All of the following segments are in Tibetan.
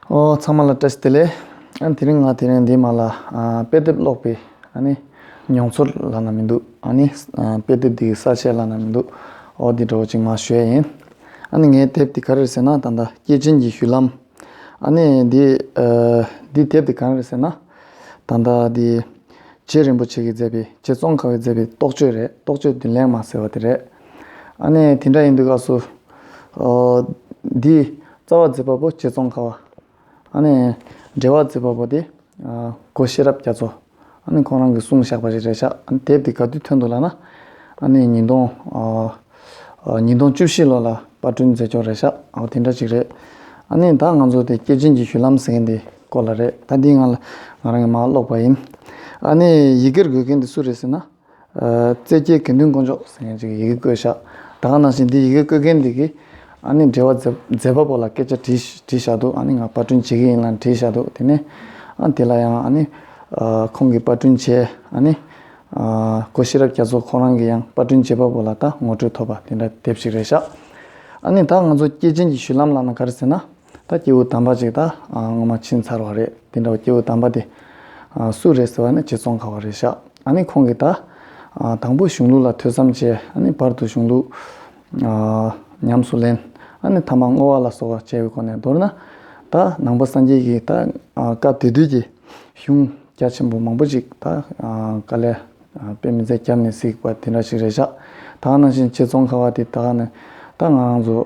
ཨོ་ཚང་མ་ལ་བཀྲ་ཤིས་བདེ་ལེགས། ཨ་ནི་དེ་རིང་ང་དེ་རིང་འདི་མ་ལ་དཔེ་དེབ་ཀློག་པའི་ཨ་ནི་མྱོང་ཚོར་ལ་ན་མི་འདུག་ཨ་ནི་དཔེ་དེབ་འདིའི་གསར་བཤད་ལ་ན་མི་འདུག་ཨོ་འདི་འགྲོ་བ་ཅིག་མ་ཞོལ་ཡིན། ཨ་ནི་ངའི་དེབ་དེ་ག་རེར་ཟེར་ན་ད་ལྟ་སྐྱེས་ཆེན་གྱི་བཞུད་ལམ། ཨ་ནི་འདི་འདི་དེབ་དེ་ག་རེར་ཟེར་ན་ད་ལྟ་འདི་རྗེ་རིན་པོ་ཆེ་གིས་མཛད་པའི་རྗེ་ཙོང་ཁ་བས་མཛད་པའི་རྟོགས་བརྗོད་རེད་རྟོགས་བརྗོད་བདུན་ལེགས་མ་ཟེར་བ་དེ་རེད། ཨ་ནི་དེ་འདྲ་ཡིན་དུས་སྐབས་སུ་འདི་རྩ་བ་མཛེས་པ་པོ་སྐྱེས་ཙོང་ཁ་བ། འབྲེལ་བ་མཛེས་པ་པོ་དེ་གོ་ཤེས་རབ་རྒྱ་མཚོ། ཁོང་རང་གིས་གསུངས་བཞག་པ་རེད་རེད་ཤག་དེབ་དེ་ག་དུས་ཐོན་འདུག་ལགས་ན། ཉིས་སྟོང་ཉིས་སྟོང་བཅུ་བཞི་ལོ་ལ་དཔར་སྐྲུན་མཛད་ཆོག་རེད་ཤག་དེ་འདྲ་ཅིག་རེད། ད་ང་ཚོ་དེ་སྐྱེས་ཆེན་གྱི་བཞུད་ལམ་ཟེར་མཁན་དེ་སྐོར་ལ་རེད་ད་འདི་ང་རང་གིས་མ་ཀློག་པ་ཡིན། ཡི་གེར་འགོད་མཁན་དེ་སུ་རེད་ཟེར་ན། བཙལ་སྐྱེལ་གྱེར་འདོན་བསྐོ་འཇོག་ཟེར་མཁན་ཞིག་གི་ཡི་གེ་བཀོད་བཞག་དང་ནང་བཞིན་དེ་ཡི་གེ་བཀོད་མཁན་དེ་གིས་ཨ་ནི་འབྲེལ་བ་མཛད་པ་པོ་ལ་སྐད་ཆ་དྲིས་བཞག་འདུག་ཨ་ནི་ང་པར་སྐྲུན་བྱེད་ཀྱི་ཡིན་ལ་དྲིས་བཞག་འདུག་དེ་ནས་ཨ་དེ་ལ་ཡང་ཨ་ནི། ཁོང་གིས་པར་སྐྲུན་བྱས་ཨ་ནི། སྒོ་ཤེས་རབ་རྒྱ་མཚོ་ཁོང་རང་གིས་ཡང་པར་སྐྲུན་བྱེད་པ་པོ་ལ་ད་ངོ་སྤྲོད་ཐོབ་པ་དེ་འདྲ་དེབ་ཞིག་རེད་བཞག་ཨ་ནི་ད་ང་ཚོ་སྐྱེས་ཆེན་གྱི་བཞུད་ལམ་ལགས་ན་ག་རེ་ཟེར་ན། ད་སྐྱེས་བུ་དམ་པ་ཅིག་ད་སྔོན་མ་ཕྱིན་ཚར་བ་རེད་དེ་འདྲ་བ་སྐྱེས་བུ་དམ་པ་དེ། སུ་རེད་ཟེར་བ་ནི་ཅི་ཙོང་ཁ་བ་རེད་ཤག་ཨ་ནི་ཁོང་གིས་ད། དང་པོ་གཞུང་ལུགས་ལ་ཐོས་བསམ་བྱས་ཨ་ནི་བར་དུ་གཞུང་ལུགས། ཉམས་སུ་ལེན་ཨ་ནི་ཐ་མ་བསྔོ་བ་ལ་སོགས་བྱས་པའི་སྒོ་ནས་མདོར་ན། ད་ནང་པ་སངས་རྒྱས་ཀྱིས་ད་སྐབས་དེ་དུས་ཀྱི་གཞུང་རྒྱ་ཆེན་པོ་མང་པོ་ཅིག་ད་དཀའ་ལས། དཔེ་མི་ཚད་སྐྱབས་ནས་སིག་པ་དེ་འདྲ་ཞིག་རེད་ཤག་ད་གནང་བཞིན་ཁྱེད་ཙོང་ཁ་བ་དེ་ད་གནང་ད་ང་རང་ཚོ་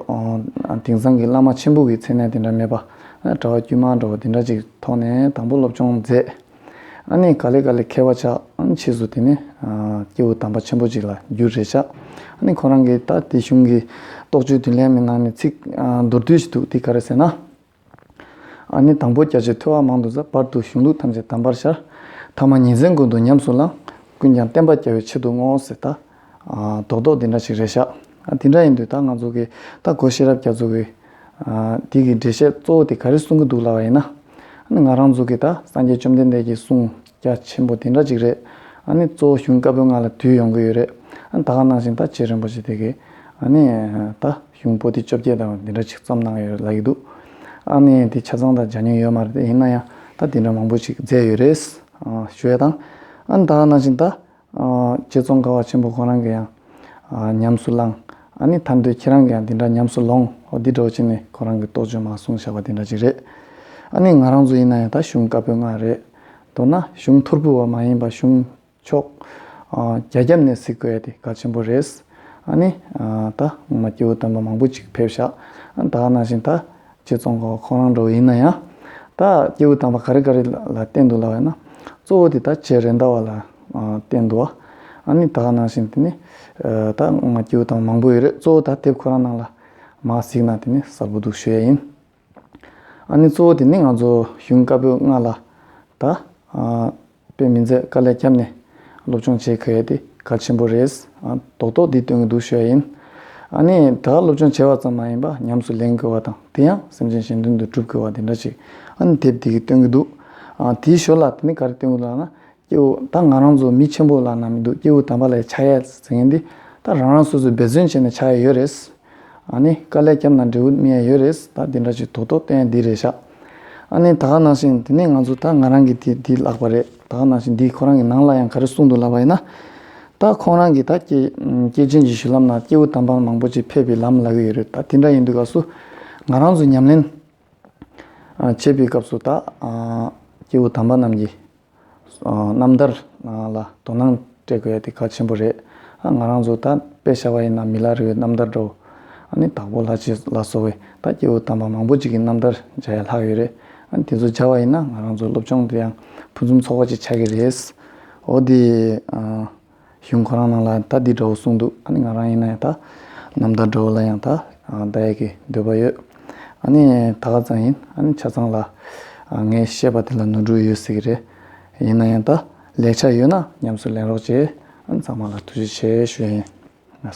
དེང་སང་གི་བླ་མ་ཆེན་པོ་གི་མཚན་གནས་དེ་འདྲ་མེད་པ་གྲྭ་བ་དཀྱུས་མ་འདྲ་བོ་དེ་འདྲ་ཅིག་ཐོག་ནས་དང་པོ་སློབ་སྦྱོང་མཛད་ཨ་ནི་ག་ལེ་ག་ལེ་མཁས་བ་ཆགས་ཕྱིས་སུ་དེ་ནས་སྐྱེ་བོ་དམ་པ་ཆེན་པོ་ཅིག་ལ་འགྱུར་རེད་ཤག་ཨ་ནི་ཁོ་རང་གི་ད་དེ་གཞུང་གི་རྟོགས་བརྗོད་དུས་ལན་མི་གནང་ནས་ཚིག་མདོར་བསྡུས་ཤིག་འདུག་དེ་ག་རེ་ཟེར་ན། ཨ་ནི་དང་པོ་རྒྱ་ཆེར་ཐོས་བ་མང་དུ་བཟའ། བར་དུ་གཞུང་ལུགས་ཐམས་ཅད་དམ་པར་ཤར། ཐ་མ་ཉིན་མཚན་ཀུན་ཏུ་ཉམས་སུ་བླང། ཀུན་ཀྱང་བསྟན་པ་རྒྱལ་བའི་ཆེད་དུ་བསྔོ། ཟེར། ད་རྡོག་རྡོག་འདི་འདྲ་ཞིག་རེ་བཞག། དེ་འདྲ་ཡིན་དུས་ད་ང་ཚོ་གི་ད་གོ་ཤེས་རབ་རྒྱ་མཚོ་བོའི། དེ་གི་འགྲེལ་བཤད་གཙོ་བོ་དེ་ག་རེ་གསུང་གི་འདུག་ལབ་བ་ཡིན་ན། ཨ་ནི་ང་རང་ཚོ་གི་ད་སངས་རྒྱས་བཅོམ་ལྡན་འདས་ཀྱི་གསུང་རྒྱ་ཆེན་པོ་དེ་འདྲ་ཅིག་རེད། ཨ་ནི་གཙོ་བོ་གཞུང་བཀའ་པོད་ལྔ་ལ་དུས་ཡོང་གི་ཡོད་རེད། ད་ག་ནང་བཞིན་ད་རྗེ་རིན་པོ་ཆེ་དེ་གི་ཨ་ནི་ད། གཞུང་པོ་ཏི་བཅོ་བརྒྱད་དང་འདི་འདྲ་ཅིག་བརྩམས་གནང་ཡོད་རེད་ལབ་ཀྱི་འདུག་ཨ་ནི་དེ་ཆ་ཚང་དག་སྦྱང་མྱོང་ཡོད་མ་རེད་ཡིན་ན་ཡང་ད་འདི་འདྲ་མང་པོ་ཅིག་མཛད་ཡོད་རེད། ཞུ་བ་དང། ཨ་ནི་ད་ནང་བཞིན་ད། རྗེ་ཙོང་ཁ་བ་ཆེན་པོ་ཁོང་རང་གི་ཡང། ཉམས་སུ་བླང། ཨ་ནི་ཐར་འདོད་ཁྱེད་རང་གི་ཡང་འདི་འདྲ་ཉམས་སུ་ལོངས་ཨོ་འདི་འདྲ་བ་ཅིག་ནི་ཁོང་རང་གི་རྟོགས་བརྗོད་མ་གསུངས་བཞག་པ་འདི་འདྲ་ཅིག་རེད། ཨ་ནི་ང་རང་ཚོ་ཡིན་ན་ཡང་ད་གཞུང་བཀའ་པོད་ལྔ་རེད། མདོར་ན་གཞུང་ཐོར་བུ་བ་མ་ཡིན་པ་གཞུང། ཆོག། རྒྱ་རྒྱབ་ནས་གཟིགས་དགོས་དེ་ག་ཆེན་པོ་རེད། ཨ་ནི། ད་ངོ་མ་སྐྱེ་བོ་དམ་པ་མང་པོ་ཅིག་ཕེབས་ཤག་ད་ནང་བཞིན་ད་རྗེ་ཙོང་ཁ་བ་ཁོང་རང་འགྲོ་བ་ཡིན་ན་ཡང། ད་སྐྱེ་བོ་དམ་པ་ག་རེ་ག་རེ་ལ་བསྟེན་འདུག་ལབ་ཡོད་ན། གཙོ་བོ་དེ་ད་རྗེ་རེད་མདའ་བ་ལ་བསྟེན་འདུག་ཨ། ཨ་ནི་ད་ནང་བཞིན་དེ་ནི། ད་ངོ་མ་སྐྱེ་བོ་དམ་པ་མང་པོ་ཡོད་རེད་གཙོ་བོ་ད་དེབ་ཁོ་རང་ནང་ལ་མ་གཟིགས་ན་དེ་ནི་གསར་བུ་འདུག་ཞུ་ཡ་ཡིན། ཨ་ནི་གཙོ་བོ་དེ་ནི་ང་ཚོ་གཞུང་བཀའ་པོད་ལྔ་ལ་ད་དཔེ་མི་མཛད་དཀའ་ལས་ཁྱབ་ནས་སློབ་སྦྱོང་བྱེད་གལ་ཏེ་གལ་ཆེན་པོ་རེད། རྡོག་རྡོག་འདི་སྟོན་གྱི་འདུག་ཤོད་ཡིན། ཨ་ནི་ད་སློབ་སྦྱོང་བྱས་བ་ཙམ་མ་ཡིན་པ་ཉམས་སུ་ལེན་དགོས་བ་དང་དེ་ཡང་སེམས་ཅན་གཞན་དོན་དུ་སྒྲུབ་དགོས་བ་དེ་འདྲ་ཅིག་ཨ་ནི་དེབ་འདི་གིས་སྟོན་གྱི་འདུག་དེའི་ཞོར་ལ་དེ་ནི་ག་རེ་སྟོན་གྱི་འདུག་ལགས་ན། སྐྱེ་བོ་ད་ང་རང་ཚོ་མི་ཆེན་པོ་ལ་ན་མི་འདུག་སྐྱེ་བོ་དམ་པ་ལས་ཆ་ཡས་ཟེར་མཁན་འདི་ད་རང་རང་སོ་སོས་འབད་བརྩོན་བྱས་ནས་ཆ་ཡས་ཡོད་རེད། ཨ་ནི་དཀའ་ལས་བརྒྱབ་ན་འབྲས་བུ་དམིགས་ཡས་ཡོད་རེད་ད་འདི་འདྲ་ཅིག་དོག་དོག་བསྟན་ཡས་འདི་རེད་ཤག་ཨ་ནི་ད་ག་ནང་བཞིན་དེ་ནས་ང་ཚོ་ད་ང་རང་གི་དེ་འདི་ལགས་པ་རེད་ད་ག་ནང་བཞིན་འདི་ཁོ་རང་གི་ནང་ལ་ཡང་ག་རེ་གསུངས་འདུག་ལབ་པ་ཡིན་ན། ད་ཁོང་རང་གིས་ད་སྐྱེས་སྐྱེས་ཆེན་གྱི་བཞུད་ལམ་ན་སྐྱེ་བོ་དམ་པ་མང་པོ་ཅིག་ཕེབས་པའི་ལམ་ལ་གི་ཡོད་རེད་ད་དེ་འདྲ་ཡིན་དུས་ག་སུ་ང་རང་ཚོ་ཉམས་ལེན་བྱེད་པའི་སྐབས་སུ་ད་སྐྱེ་བོ་དམ་པ་རྣམས་ཀྱིས། རྣམ་ཐར་ལ་དོ་སྣང་སྤྲད་དགོས་དེ་གལ་ཆེན་པོ་རེད། ང་རང་ཚོ་ད་དཔེ་ཤར་བ་ཡིན་ན་མི་ལ་རི་བའི་རྣམ་ཐར་འགྲོ། ནི་དྭགས་པོ་ལྷ་རྗེ་ལ་སོགས་བས་ད་སྐྱེ་བོ་དམ་པ་མང་པོ་ཅིག་གི་རྣམ་ཐར་སྦྱར་ཡ་ལྷག་ཡོད་རེད། དེ་ཚོ་སྦྱར་བ་ཡིན་ན་ང་རང་ཚོའི་སློབ་སྦྱོང་དུ་ཡང་ཕུན་སུམ་ཚོགས་པ་ཅིག་ཆགས་ཀྱི་རེད། འོ་དེ། གཞུང་ཁོ་རང་རྣམས་ལ་ཡང་ད་འདི་འདྲ་བོ་གསུངས་འདུག་ཨ་ནི་ང་རང་ཡིན་ན་ཡང་ད་རྣམ་ཐར་འདྲ་བོ་ལ་ཡང་ད་ད་ཡག་གི་འདོད་པ་ཡོད། ཨ་ནི་ད་ག་ཙང་ཡིན་ཨ་ནི་ཆ་ཚང་ལ་ངས་བཤད་པ་དེ་ལ་ནོར་འཁྲུལ་ཡོད་སྲིད་གི་རེད། ཡིན་ན་ཡང་ད་ལེགས་ཆ་ཡོད་ན་ཉམས་སུ་ལེན་རོགས་ཅེས་ཨ་ནི་ཚང་མ་ལ་ཐུགས་རྗེ་ཆེ་ཞུ་ཡི་ཡིན།